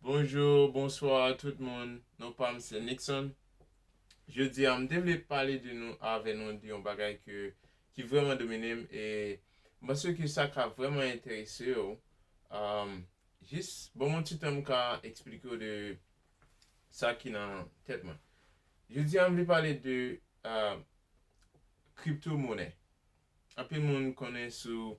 Bonjour, bonsoir tout moun, non pam se Nickson. Jodi a m te vle pale de nou avè nou de yon bagay ke ki vrèman domine m e m panse ke sa ka vrèman enterese w. Um, jis ban m yon ti tan m ka eksplike w de sa ki nan tèt mwen. Jodi a m vle pale de um, kripto monè. Anpil moun konnen sou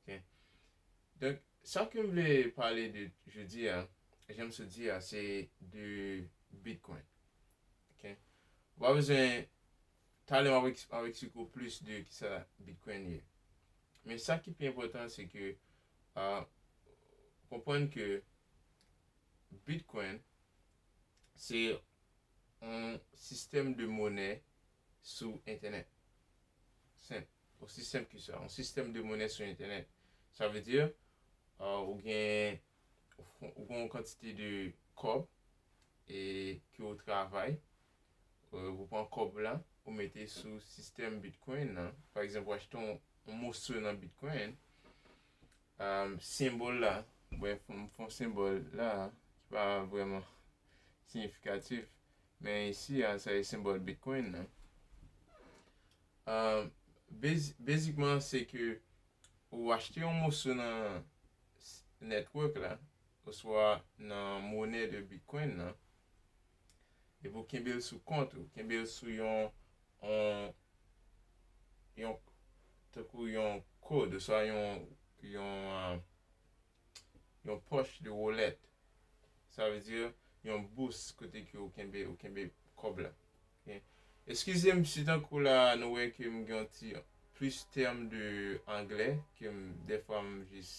ok donk sa kem vle pale de jodi a janm sot di a se de bitcoin ok ou pa bezwen talè map map eksplike ou plis de kisa bitcoin ye men sa ki pi enpotan se ke ahh konprann ke bitcoin se yon sistèm de monè sou entènèt senp Osi senp ke sa. Yon sistèm de monè sou entènèt. Sa vle di, ou gen yon kantite de kòb e ke ou travay, ou pran kòb la, ou mete sou sistèm Bitcoin nan. Pa egzanp, ou achte yon moso nan Bitcoin, senbòl la, mwen fè yon senbòl la a, ki pa vrèman siyifikatif, men isi a, sa e senbòl Bitcoin nan. Basicman se ke ou achte yon moso nan network la oswa nan monè de bitcoin nan epi ou kenbe l sou kont ou, kenbe l sou yon yon tankou yon kod oswa yon yon yon pòch de wallet sa vle di yon bous kote ke ou kenbe ou kenbe kòb la. Eskizem si tankou la nou wè ke m gen yon ti plis tèm de anglè ke m dèfwa m jis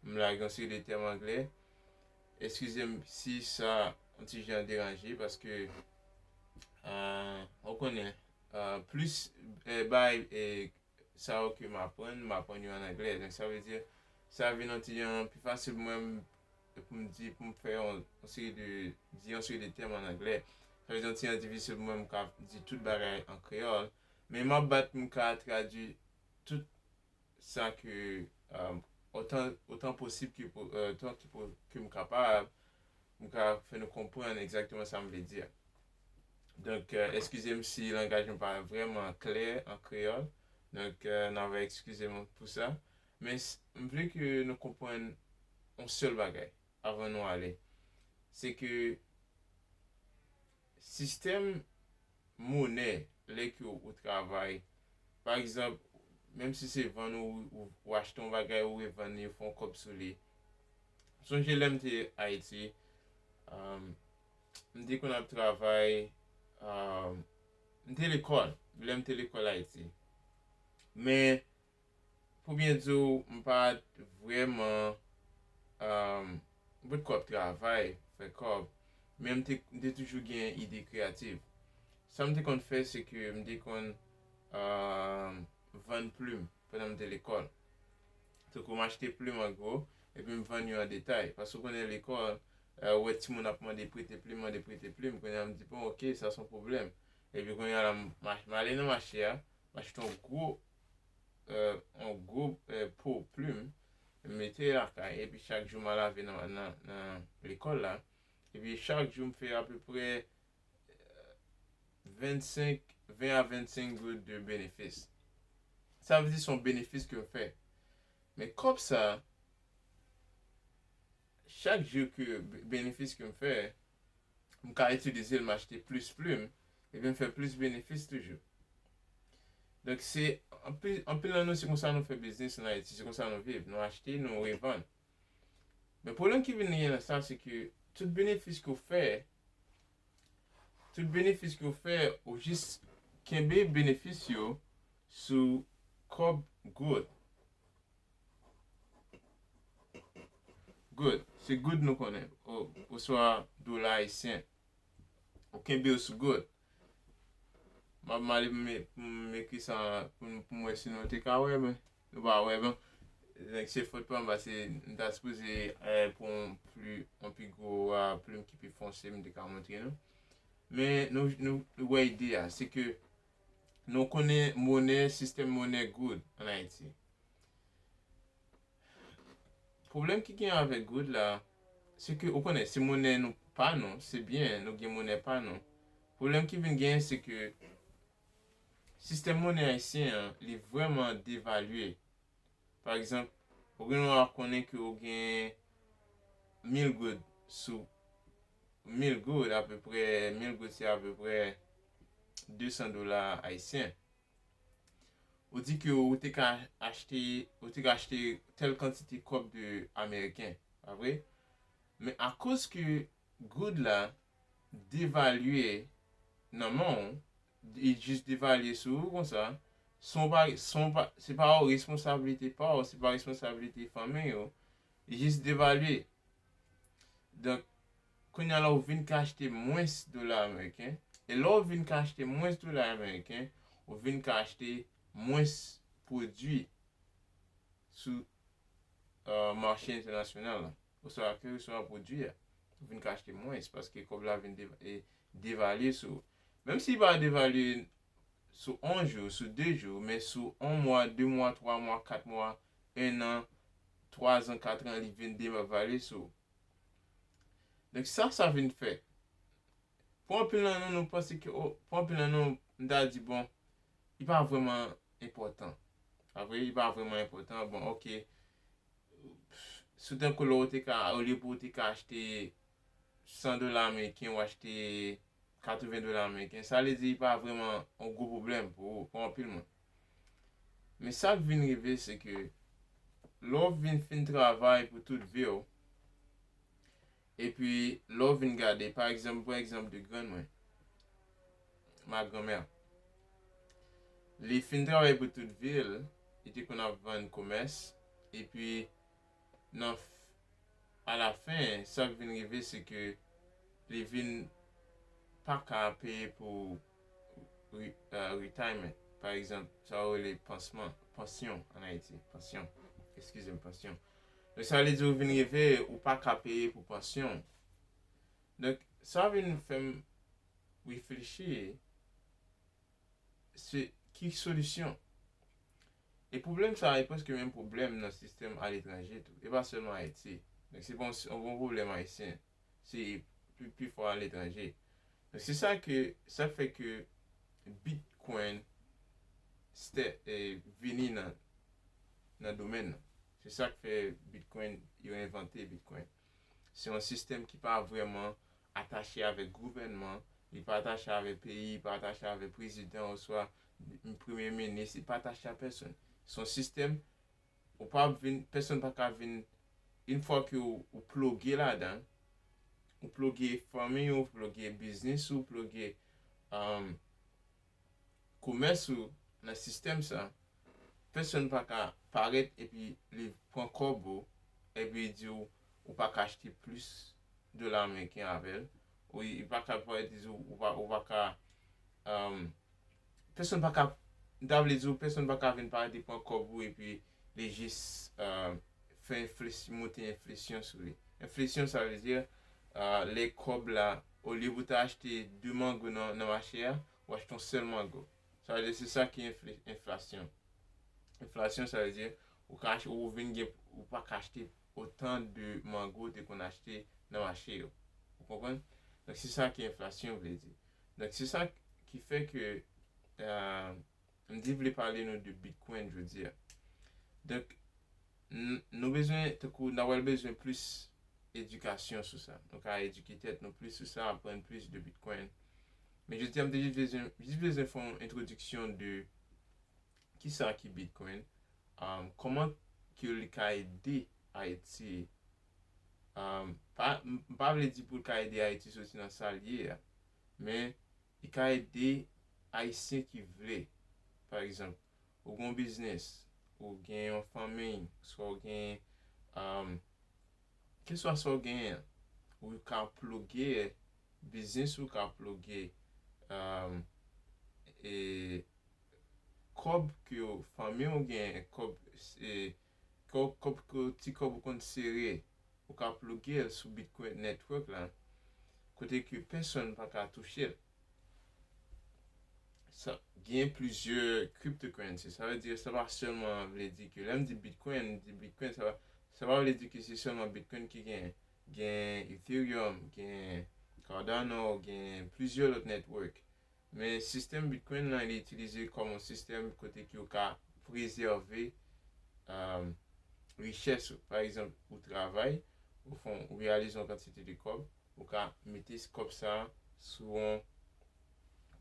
m lage yon seri de tèm anglè. Eskizem si sa yon ti jan deranje paske ou konnen plis bay sa yo ke m aprann, m aprann yo an anglè. Donk sa vle di, sa vin yon ti jan pi fasil pou mwen pou m di, pou m fè yon seri de, di yon seri de tèm an anglè. Sa vle di yon ti jan difisil pou mwen m ka di tout bagay an kreyòl. Men m ap bat pou m ka tradui tout sa ke, otan, otan posib ke, otan ke m kapab pou m ka fè nou konprann egzakteman sa m vle di a. Donk, eskize m si langaj mwen pa vrèman klè an kreyòl. Donk, nan va eskize m pou sa. Men, m vle ke nou konprann yon sèl bagay avan nou ale. Se ke sistèm monè lè ke ou travay, pa egzanp, menm si se vann ou, ou achte yon bagay ou revann li, ou fè yon kòb sou li. M sonje lè m te Ayiti, M te konn ap travay M te lekòl Lè m te lekòl Ayiti Men Pou byen di w m pa t vrèman M pot ko ap travay Fè kòb Men m te toujou gen ide kreyativ Sa m te konn fè se ke m te konn Vann plim Pandan m te lekòl Tankou m achte plim an gwo, epi m vann yo an detay. Paske ou konnen lekòl, ou wè timoun ap mande prete plim, mande prete plim. Kounye a m di bon oke, sa s on pwoblèm. Epi kounye a la, m ale nan mache a, m achte yon gwo, yon gwo po plim, m mete lakay. Epi chak jou m al lave nan lekòl la. Epi chak jou m fè apeprè 25, 20 a 25 goud de benefis. Sa vle di son benefis ke yo fè. Men kòb sa, chak jou ke benefis ke m fè, m ka itilize l m achte plis plim, epi m fè plis benefis toujou. Donk se, anpil nan nou se konsa nou fè biznis an Ayiti, se konsa nou viv, nou achte, nou revann. Men pwoblèm ki vin genyen nan sa se ke tout benefis ke w fè, tout benefis ke w fè ou jis kenbe benefis yo sou kòb goud. Goud, se goud nou konnen oswa dola ayisyen. Ou kenbe yo sou goud. M ap mande pou m ekri sa pou m wè si nou te ka wè men. Nou pa wè non. Donk se fot pam pase m ta sipoze pou yon pli yon pi gwo plim ki pi fonse m te ka montre nou. Men nou nou wè ide a, se ke nou konnen monè sistèm monè goud an Ayiti. Pwoblèm ki gen avèk goud la, se ke ou konnen se monè nou pa nou, se byen nou gen monè pa nou. Pwoblèm ki vin gen se ke Sistèm monnen ayisyen an li vrèman devalye. Pa egzanp, ou gen dwa konnen ke ou gen mil goud sou mil goud apeprè, mil goud se apeprè desan dola ayisyen. Ou di ke ou te ka achte, ou te ka achte tèl kantite kòb de ameriken, pa vre? Men akoz ke goud la devalye nan men w, li jis devalye sou ou konsa, san w pa, san w pa, se pa w responsablite pa w, se pa responsablite fanmiy ou, li jis devalye. Donk, kounye a la ou vin ka achte mwens dola ameriken, e lè ou vin ka achte mwens dola ameriken, ou vin ka achte mwens pwodui sou mache entènasyonal la. oswa kèlkeswa pwodui a, ou vin ka achte mwens paske kòb la vin devalye sou ou. Menm si li pa devalye sou on jou, sou de jou, men sou on mwa, de mwa, twa mwa, kat mwa, ennan, twazan, katran, li vin devalye sou ou. Donk sa sa vin fè? Pou anpil nan nou, nou panse ke o, pou anpil nan nou, m ta di bon, li pa vrèman enpòtan. Sa vre, li pa vrèman enpòtan, bon ok, Si w te kou la, ou te ka, olye pou ou te ka achte 100 dola ameriken, ou achte 80 dola ameriken. Sa vle di, li pa vreman yon gwo pwoblèm pou ou, pou anpil moun. Men sa k vin rive, se ke lè w vin fin travay pou tout vi w, Epi lè w vin gade, pa egzanp, m pran egzanp de grann mwen, ma grand-mère. Li fin travay pou tout vi l, li te konn ap vann komès, epi nan a la fen, sa k vin rive se ke li vin pa ka peye pou retirement, pa egzanp, sa yo rele pansman, pansyon an Ayiti, pansyon, eskize m, pansyon. Donk sa vle di ou vin rive ou pa ka peye pou pansyon w. Donk sa vin fè m reflechi se ki solisyon. E pwoblèm sa a e prèske menm pwoblèm nan sistèm aletranje tou. E pa sèlman Ayiti. Donk se pa yon pwoblèm ayisyen. se pi fò aletranje. Donk se sa ke sa fè ke bitcoin stè vini nan nan domèn nan. Se sa k fè bitcoin yo envante bitcoin. Se yon sistèm ki pa vrèman atache avèk gouvènman, li pa atache avèk peyi, li pa atache avèk prezidan oswa premye minis, li pa atache a pèsonn. Se yon sistèm Ou pa ap vin, pèsonn pa ka vin, in fwa ke ou ploge ladan, ou ploge fanmiy ou, ou ploge biznis ou, ou ploge komès ou nan sistèm sa, pèsonn pa ka parèt epi li pran kòb ou, epi li di ou, ou pa ka achte plis dola ameriken avèl, ou pa ka parèt li di ou, ou pa ka pèsonn pa ka, m ta vle di w pèsonn pa ka vin parèt e pran kòb ou epi li jis fè enflesyon, monte enflesyon sou li. Enflesyon sa vle di lè kòb la, olye pou w ta achte 2 mango nan mache a, ou achte yon sèl mango. Sa vle di se sa ki enflasyon. Enflasyon sa vle di ou ka achte, ou vin gen, ou pa ka achte otan de mango ou te konn achte nan mache yo. Ou konprann? Donk se sa ke enflasyon vle di. Donk se sa ki fè ke mdi vle pale nou de Bitcoin jodi a. Donk nou bezwen tankou nan wèl bezwen plis edikasyon sou sa. Nou ka edike tèt nou plis sou sa, aprann plis de Bitcoin. Men jodi a mte jis bezwen, jis bezwen fè yon entwodiksyon de ki sa ki Bitcoin, kòman ke li ka ede Ayiti M pa vle di pou l ka ede Ayiti soti nan sa l ye a, men li ka ede Ayisyen ki vle. Pa egzanp, ou gen yon biznis, ou gen yon fanmi, oswa ou gen keswa sa w genyen an, ou ka ploge biznis ou, ka ploge kòb ke fanmi w genyen, kòb Ti kòb ou konn sere, ou ka plouge l sou Bitcoin Network la kote ke pèsonn pa ka touche l. Gen plizyè cryptocurrency, sa vle di sa pa sèlman vle di ke lè m di Bitcoin, m di Bitcoin sa pa sa pa vle di ke se sèlman Bitcoin ki genyen. Gen Ethereum, gen Cardano, gen plizyè lòt network. Men sistèm Bitcoin lan li itilize kòm yon sistèm kote ki ou ka prezève richès ou. Pa egzanp, ou travay, ou fè yon, ou reyalize yon kantite de kòb, ou ka mete kòb sa a sou yon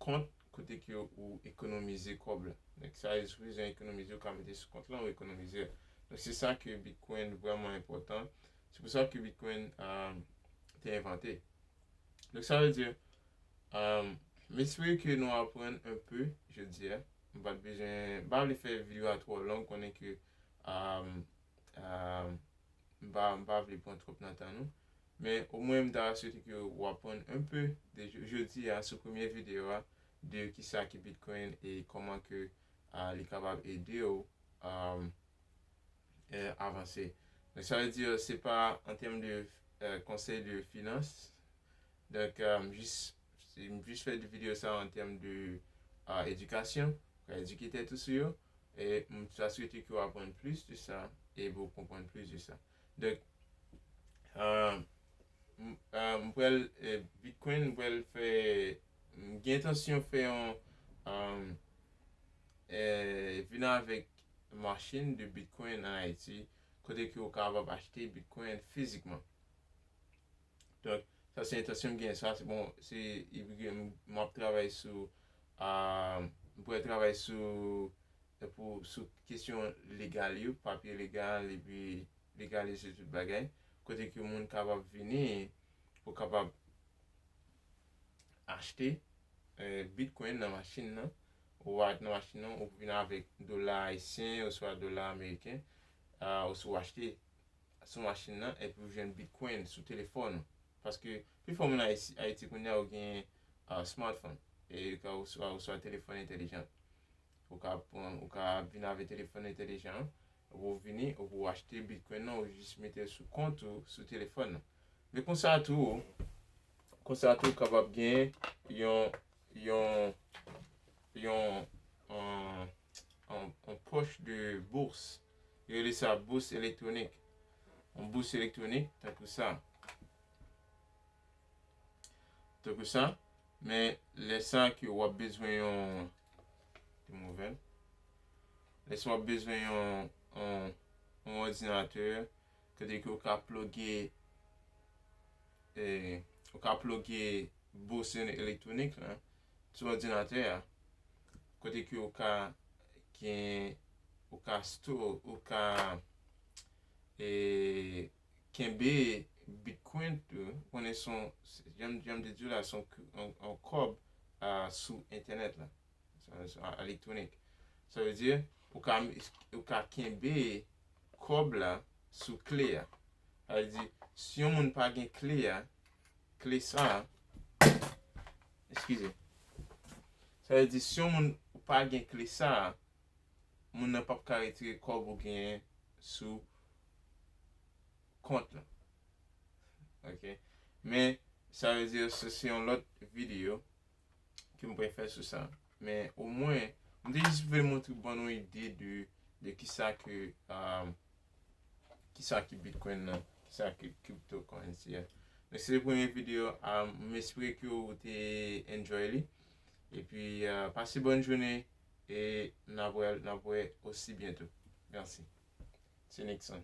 kont kote ke ou ekonomize kòb la. Donk sa ou bezwen ekonomize ou ka mete sou kont lan ou ekonomize l. Donk se sa ke Bitcoin vrèman enpòtan. Se pou sa ke Bitcoin te envante. Donk sa vle di, m espere ke nou aprann un peu jodi a. M pa t bezwen, m pa vle fè video a twò long konnen ke m pa, m pa vle pran twòp nan tan nou. Men omwen m ta swete ke ou aprann un peu de jodi a sou premye video a de kisa ki Bitcoin e kòman ke li kapab ede ou avanse. Donk sa vle di se pa an tèm de konsèy de finans. Donk m jis m jis fè videyo sa an tèm de edikasyon. Ka edike tèt ou sou yo. E m ta swete ke w aprann plis de sa e pou w konprann plis de sa. Donk m pral Bitcoin m pral fè m gen entansyon fè yon Eh vin avèk machine de bitcoin en Haïti kote ke ou kapab achte bitcoin fizikman. Donk sa se entansyon m genyen sa se bon se epi ke map travay sou m pral travay sou pou sou kesyon legal yo papye legal epi legalize tout bagay kote ke moun kapab vini pou kapab achte bitcoin nan machin nan, ou va nan machin nan ou vin avèk dola ayisyen oswa dola ameriken oswa ou achte sou machin nan epi ou jwenn bitcoin sou telefòn ou. Paske pifò moun Ayiti kounye a yo gen smartphone e oswa telefòn entelijan. Ou ka pran, ou ka vin avèk telefòn entelijan an, epi ou vini epi ou achte bitcoin nan ou jis mete l sou kont ou sou telefòn nan. Men konsa tou, Konsa tou kapab gen yon yon yon yon poche de bourse yo rele sa bourse électronique yon bourse électronique tankou sa tankou sa men lè sa ke wap bezwen yon lè sa wap bezwen yon yon yon ordinateur Kote ke ou ka ploge ou ka ploge bous yon elektwonik lan sou òdinatè a, kote ke ou ka gen ou ka store ou ka kenbe bitcoin tou, ou konnen son jan m te di w la son kòb sou entènèt la. Electronic. Sa vle di, ou ka, ou ka kenbe kòb la sou kle a. Sa vle di, si yon moun pa gen kle a, kle sa, eskize. Sa vle di, si yon moun pa gen kle sa, moun nan pap ka retire kòb ou genyen sou kont lan. Ok. Men, sa vle di, se se yon lòt videyo ke m pral fè sou sa. Men o mwen, m te jis vle montre ban nou ide de de ki sa ke ki sa ki Bitcoin nan, ki sa ki crypto currency a. Men se te premye video a, m espere ke ou te enjoy li. E pi pase bòn jounen e n ap wè, n ap wè osi byento. Mèsi. Se Nickson.